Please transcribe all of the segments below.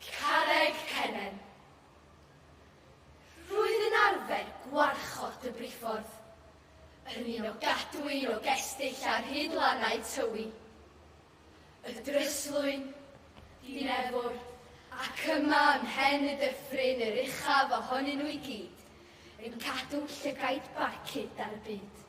Carreg Cennen. Rwyf yn arfer gwarchod y briffordd, yn un o gadw un o gestyll ar hyd lannau Tywi, y dryslwyn, Dinefwr, ac yma ym mhen y dyffryn yr uchaf ohonyn nhw i gyd, yn cadw llygaid barcud ar y byd.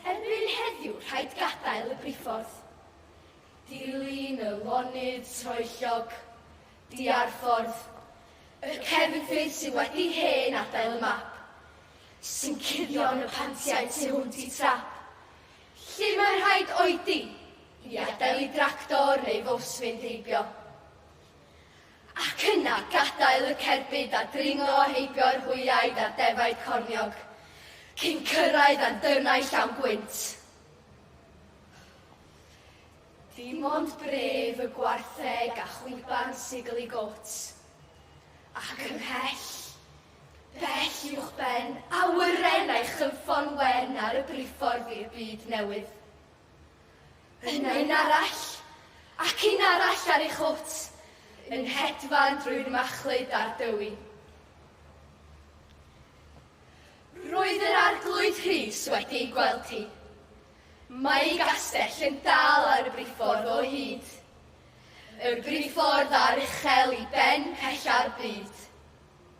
Erbyn heddiw rhaid gadael y briffordd. Dilyn y lonydd troellog, diarffordd, y cefnfyrdd sydd wedi hen adael y map, sy'n cuddio yn y pantiau tu hwnt i trap, lle mae'n rhaid oedi i adael i dractor neu fws fynd heibio. Ac yna, gadael y cerbyd a dringo a heibio yr hwyaid a'r defaid corniog, cyn cyrraedd anddyrnau llawn gwynt. Dim ond bref y gwartheg a chwiban sigl i got. Ac ymhell, bell uwchben, awyren a'i chynffon wen ar y briffordd i'r byd newydd. Yna un arall, ac un arall ar ei chwt, yn hedfan drwy'r machlud a'r dywi. Roedd yr Arglwydd Rhys wedi ei gweld hi. Mae ei gastell yn dal ar y briffordd o hyd. Y briffordd a'r uchel i ben pella'r byd.